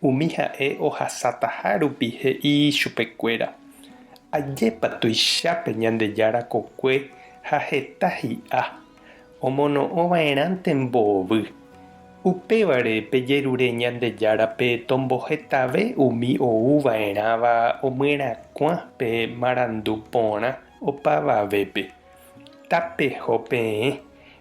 Umi ha'e ohasataha rupi he'i chupekuéra, Ajépa tuichápe Ñandejára kokue ha heta hi'a, omono'õva'erãnte mboovy. Upévare pejerure Ñandejárape tombohetave umi ouva'erãva omyerakuã pe marandu porã opavavépe. Tapeho peẽ,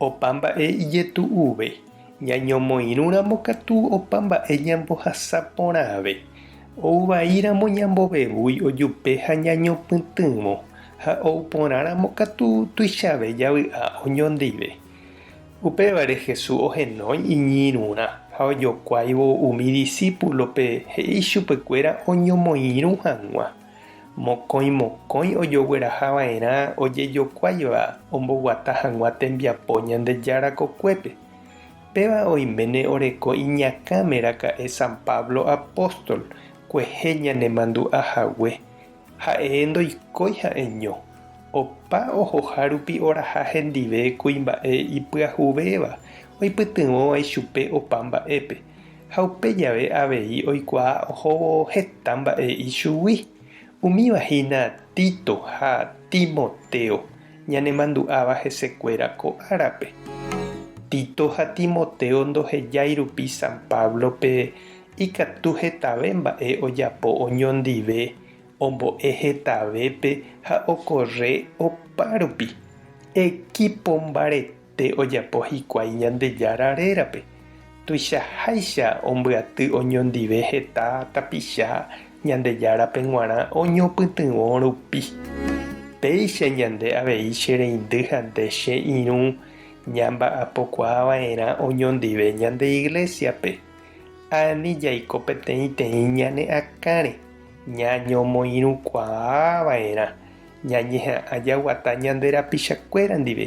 Opa mba'e ijetu'uve. Ñañomoirũramo katu opa mba'e ñambohasa porãve. Ou vaíramo ñambovevúi ojupe ha ñañopytỹvo, ha ou porãramo katu tuichave javy'a oñondive. Upévare Jesús ohenói iñirũrã ha ojokuáivo umi disípulope he'i chupekuéra oñomoirũ hag̃ua. Mokõi mokõi ojogueraha va'erã ojejokuáiva omboguata hag̃ua tembiapo Ñandejára kokuépe. Péva oiméne oreko iñakãme raka'e San Pablo apóstol kuehe ñanemandu'a hague. Ha'e ndoikói ha'eño, opa ohoha rupi oraha hendive kuimba'e ipyahuvéva oipytyvõva ichupe opa mba'épe. Ha upe jave avei oikuaa ohóvo heta mba'e ichugui. Umíva hína Tito ha Timoteo, ñanemandu'áva hesekuéra ko árape. Tito ha Timoteo ndohejái rupi San Páblope ikatu hetave mba'e ojapo oñondive, ombo'e hetavépe ha okorre opárupi. Equipombaretéke! Pe ojapo hikuái Ñandejára rérape, tuichaháicha ombyaty oñondive heta tapicha Ñandejárape g̃uarã oñopytyvõ rupi. Péicha ñande avei che reindy ha nde che irũ ñamba'apokuaa va'erã oñondive ñande Iglésiape. Ani jaiko peteĩteĩ ñane akãre ñañomoirũkuaa va'erã ñañeha'ã jaguata ñande rapichakuéra ndive